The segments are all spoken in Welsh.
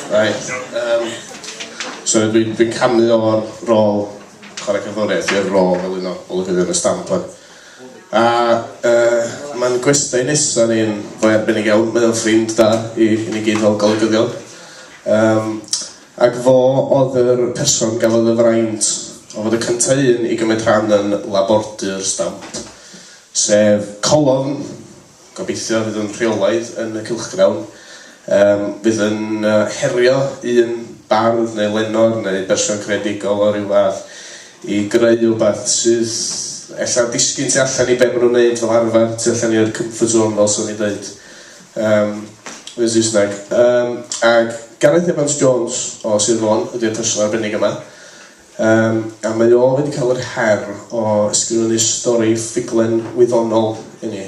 Right, um, so dwi'n dwi canu o'r rôl chwarae cyforiaeth i'r rôl fel un o olygyddion y stamp A uh, mae'n gwestiwn nesaf ni'n fwy arbennig iawn, mae'n ffrind da i, i ni gyd fel golygyddion. Um, Ac fo oedd yr person gafodd y fraint o fod y cynta un i gymryd rhan yn labordy'r stamp, sef Colofn, gobeithio fydd yn rheolaidd yn y cylchgrawn, yym fydd yn herio un bardd neu lenor neu berson creadigol o ryw fath i greu rywbeth sydd ella'n disgyn tu allan i be ma' nhw'n neud fel arfer, tu allan i'r comfort zone fel 'swn i'n deud. Yym, yn Saesneg. Yym, ac Gareth Evans Jones o Sir Fôn ydy'r person arbennig yma. Yym, a mae o wedi cael yr her o ysgrifennu stori ffuglen wyddonol i ni.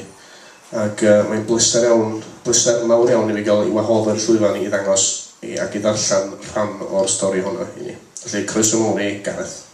Ac uh, mae'n bleser iawn, bleser mawr iawn i fi gael i wahodd yr llwyfan i ddangos i ac i ddarllen rhan o'r stori honno i ni. Felly, croeso mawr i Gareth.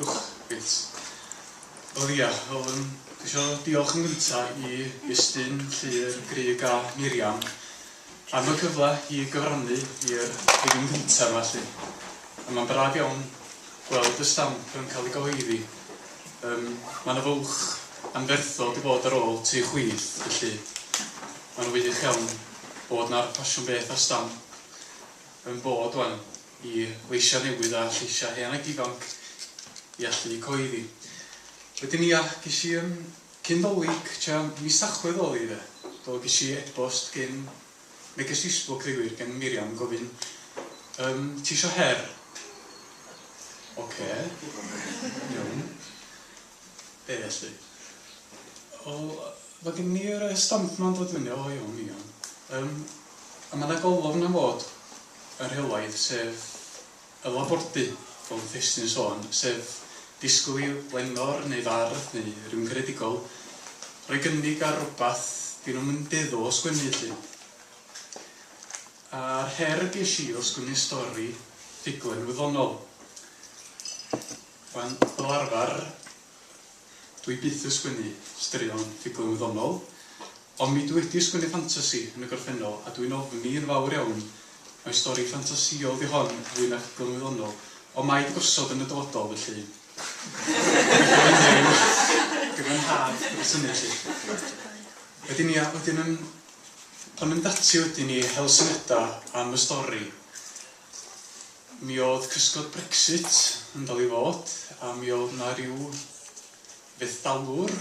Uwch. Reit. Wel ia, yym dwi isio diolch yn gynta i Estyn, Llŷr, Grug a Miriam am y cyfle i gyfrannu i'r rhifyn gynta yma 'lly. A ma'n braf iawn gweld y stamp yn cael ei gyhoeddi. Yym ma' 'na fwlch anferthol 'di bod ar ôl tri chwith felly ma'n wych iawn bod 'na ffasiwn beth ar stamp yn bod ŵan. i leisiau newydd a lleisiau hen ac ifanc i allu cyhoeddi. Wedyn ia, ges i yym cyn Dolig, tua mis Tachwedd oedd hi de, do, ges i e-bost gin, neges Facebook ddeu gwir, gen Miriam yn gofyn yym ti isio her? Ocê, iawn. Be felly? O, ma' gin i yr stamp ma'n dod fyny, o iawn, iawn. Um, a mae yna golofn am fod yn rheolaidd, sef y labordy, fel yn Thestin sôn, sef disgwyl i lenor neu fardd neu rhywun gredigol rhoi gynnig ar rhywbeth dyn nhw'n mynd iddo o sgwennu lle. A'r her ges i o sgwennu stori ffuglen wyddonol. Wel, fel arfer, dw i byth yn sgwennu straeon ffuglen wyddonol, ond mi dw wedi sgwennu ffantasi yn y gorffennol, a dw i'n ofni yn fawr iawn mai stori ffantasïol ydi hon fwy na ffuglen wyddonol, ond mae di gosod yn y dyfodol, felly gobeithio fydd e'n gyfynhad dros hynny, 'lly. Wedyn, ia, wedyn yn... pan mynd ati wedyn i hel syniadau am y stori, Mi oedd cysgod Brexit yn dal i fod a mi oedd 'na ryw fethdalwr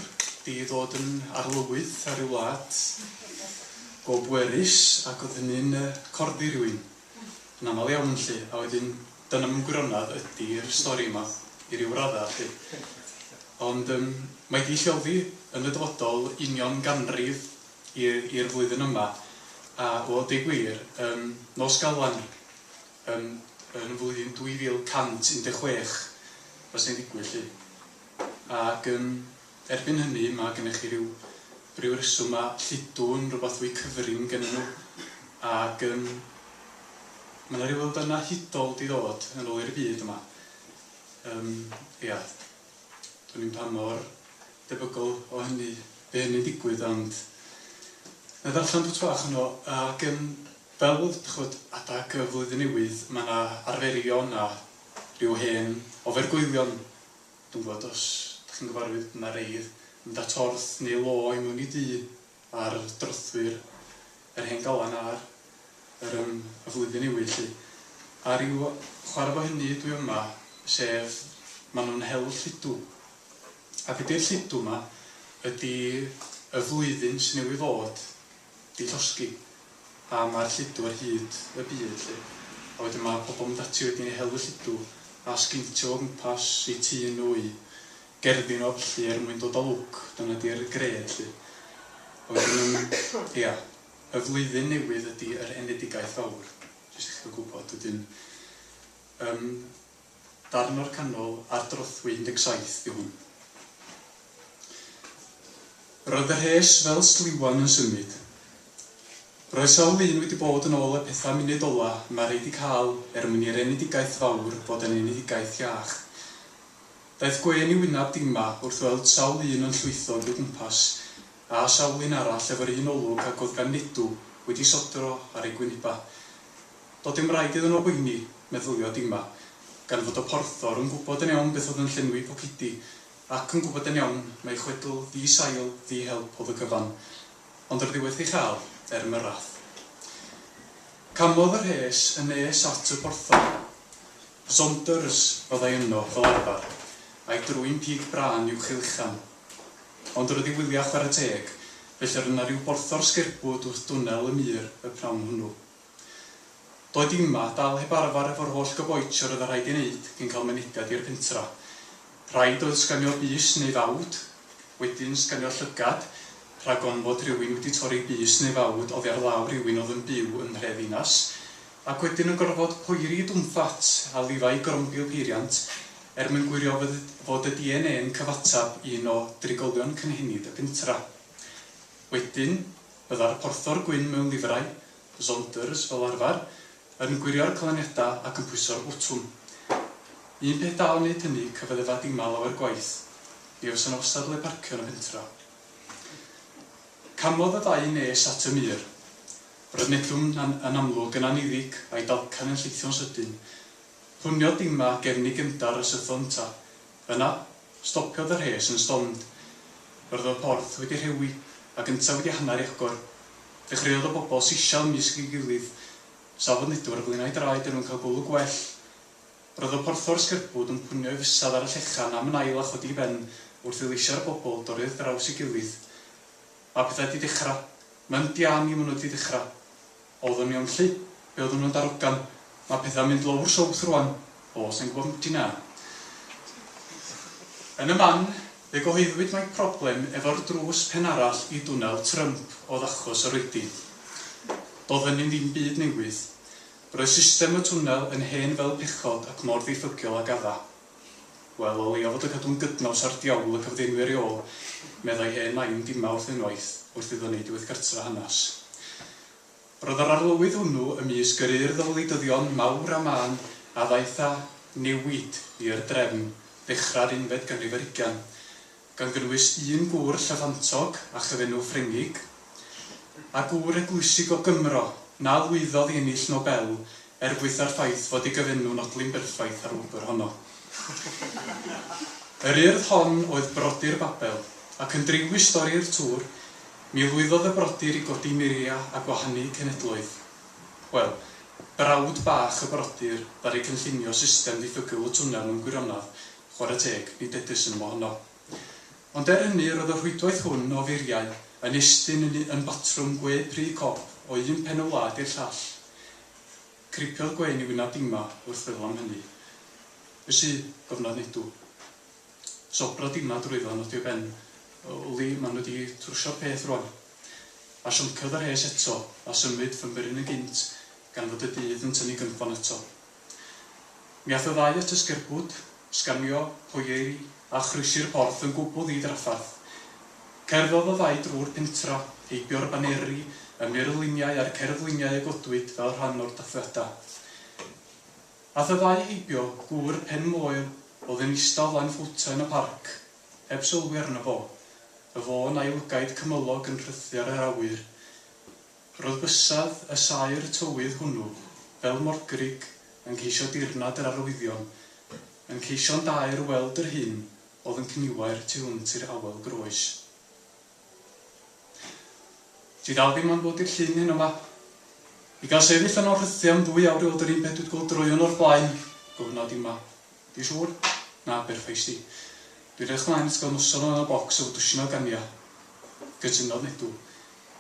'di ddod yn arlywydd ar ryw wlad go bwerus ac oedd hynny'n yy corddi rhywun yn aml iawn 'lly a wedyn dyna mewn gwirionedd ydi'r stori yma i ryw radda' 'lly. Ond yym mae 'di lleoli yn y dyfodol union ganrif i'r flwyddyn yma a o deu gwir yn nos Galan ni yn yn y flwyddyn 2116 fysa hi'n digwydd 'lly ac yn erbyn hynny ma' gennych chi ryw ryw reswm ma' lludw yn rwbath fwy cyfrin gennyn nhw ac yn ma' 'na ryw elfenna hudol 'di ddod yn ôl i'r byd yma yym ia. Dwn i'm pa mor debygol o hynny by hynny'n digwydd ond na ddarllen pwt bach yno ac yn fel chwyd adag y flwyddyn newydd mae yna arferion a rhyw hen ofergoelion dwi'n gwybod os dych chi'n gyfarwydd mae rhai yn mynd at orth neu lo i mwyn i du a'r drothwy'r yr hen galan ar yr yym y flwyddyn newydd 'lly. A ryw chware fo hynny dwi yma sef ma' nhw'n hel lludw. A be 'di'r lludw 'ma ydi y flwyddyn sy newydd fod 'di llosgi a ma'r lludw ar hyd y byd 'lly. A wedyn ma' pobl mynd ati wedyn i hel y lludw a sgeintio o gwmpas eu tŷ nhw, eu Gerdyn o lly er mwyn dod o lwc, dyna di'r gred lly. A wedyn yn, ia, y flwyddyn newydd ydi yr enedigaeth fawr, jyst i chi ga'l gwbod, wedyn yym darn o'r canol ar drothwy 17 di hwn. Roedd y rhes fel sliwan yn symud. Roedd sawl un wedi bod yn ôl y petha munud ola, ma rei di ca'l er mwyn i'r enedigaeth fawr fod yn enedigaeth iach. Daeth gwên i wynab Dima wrth weld sawl un yn llwytho yn dy gwmpas, a sawl un arall efo'r un olwg ag oedd gan Nedu wedi sodro ar ei gwynebau. Doedd dim raid iddyn nhw boeni, meddylia Dima, gan fod y porthor yn gwybod yn iawn beth oedd yn llenwi pocedi, ac yn gwybod yn iawn mai chwedl ddi-sail, ddi-help oedd y cyfan. Ond roedd hi werth ei chael, er am y rath. Camodd y rhes yn nes at y porthor. Saunders fyddai yno, fel arfer, a'i drwyn pig brân uwch ei luchan. Ond roedd i wyliau chwarae teg, felly roedd yna ryw borthor sgerbwd wrth dwnnel y mur y pnawn hwnnw. Doi dim 'ma, dal heb arfer efo'r holl goboitsh a roedd yn rhaid ei wneud cyn cael mynediad i'r pentra. Rhaid oedd sganio bys neu fawd, wedyn sganio llygad, rhag ofn fod rhywun wedi torri bys neu fawd oddi ar law rhywun oedd yn byw yn nhre ddinas. Ac wedyn yn gorfod poeri i Dunfat a Levi grombio peiriant er mwyn gwirio fod y DNA yn cyfateb i un o drigolion cynhenid y pentra. Wedyn, byddai'r porthor gwyn mewn lifrai, Zonders fel arfer, yn gwirio'r canlyniadau ac yn pwyso'r botwm. Un peth da o wneud hynny, cyfaddefa dima lawer gwaith. Mi fysa 'na wastad le parcio yn y pentra. Camodd y ddau nes at y mur. Roedd Neptwn yn amlwg yn anniddig, a'i dalcan yn llithio'n sydyn. Hwniodd Dima gefn ei gefndar a sytho yntau. Yna, stopiodd y rhes yn stond. Roedd y porth wedi rhewi, ac yntau wedi hanner ei agor. Dechreuodd y bobl sisial ymysg ei gilydd. Safodd Nedwr y flinau draed er mwyn cael golwg gwell. Roedd y porthor sgerbwd yn pwnio'i fysedd ar y llechan am yn ail a chodi i ben wrth i leisio'r bobl dorri wrth draws ei gilydd. Mae pethau 'di dechra. Mae'n diam i ma' nhw 'di dechra. Oeddwn i on lly. Be oeddwn nhw'n darogan. Mae pethau'n mynd lowr south rwan. O, sa i'n gwybod 'mbyti na. Yn y man, fe gyhoeddwyd mai problem efo'r drws pen arall i dwnel Trump oedd achos yr oedi. Doedd hynny'n ddim byd newydd. Roedd system y twnnel yn hen fel pechod ac mor ddiffygiol ag adda. Wel, o leia fod yn cadw'n gydnaws â'r diawl y cyfdeinwyr i ôl, meddai hen nain Dima wrth unwaith, wrth iddo wneud diweddgartref hanes. Roedd yr arlywydd hwnnw ymysg yr urdd o wleidyddion mawr a mân a ddaeth â newid i'r drefn ddechrau'r unfed ganrif ar hugain. gan gynnwys un gŵr llyfantog â chyfenw Ffrengig, a gŵr eglwysig o Gymro na lwyddodd i ennill Nobel er gwaetha'r ffaith fod ei gyfenw'n odli'n berffaith â'r wobr honno. Yr urdd hon oedd Brodyr Babel, ac yn driw i stori'r tŵr, mi lwyddodd y brodyr i godi muria a gwahanu cenedloedd. Wel, brawd bach y brodyr ddaru cynllunio system ddiffygl y twnnel mewn gwirionedd, Chwarae teg, nid edys yn wahanol. Ond er hynny, roedd y rhwydwaith hwn o furiau yn estyn yn un batrwm gwe pry cop o un pen y wlad i'r llall. Cripiodd gwên i wyneb Dima wrth feddwl am hynny. Be sy? gofnod Nedw. Sobrodd Dima drwyddo a nodio ben. Wli, maen nhw wedi trwsio'r peth rwan. A sionciodd y rhes eto, a symud ffynbryn yn gynt, gan fod y dydd yn tynnu gynffon ato. Mi aeth y ddau at y sgerbwd, sgamio, poieiri, a chroesi'r porth yn gwbl ddi-drafferth. Cerddodd y ddau drwy'r pentra, heibio'r baneri, y murluniau a'r cerfluniau a godwyd fel rhan o'r dathliadau. Aeth y ddau heibio gŵr pen moel oedd yn ista o flaen ffowta yn y parc, heb sylwi arno fo, y fôn a'i lygaid cymylog yn rhythu ar yr awyr. Roedd bysedd y saer tywydd hwnnw, fel morgrug, yn ceisio dirnad yr arwyddion, yn ceisio'n daer weld yr hyn oedd yn cniwair tu hwnt i'r awel groes. Ti ddal ddim am ddod i'r llyn heno 'ma? I gael sefyll yno rhythiau am ddwy awr i weld yr un peth dwi 'di gweld droeon o'r blaen? gofynnodd Dima. Ti'n siŵr? Na, byr feisty. Dwi'n edrych ymlaen at gael noson o anal bocs efo dwsin o gania. Cytunodd Nedw.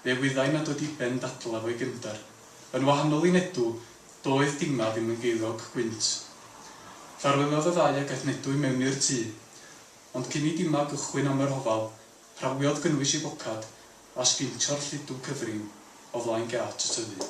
Fe wyddai nad oedd diben ddadl efo'i gefnder. Yn wahanol i Nedw, doedd Dima ddim yn geiddiog gwynt. Ffarweliodd y ddau ac aeth Nedw i mewn i'r tŷ. Ond cyn i Dima gychwyn am y rhofal, prawiodd gynnwys ei bocad a sgintio'r lludw cyfrin o flaen gât y tyddyn.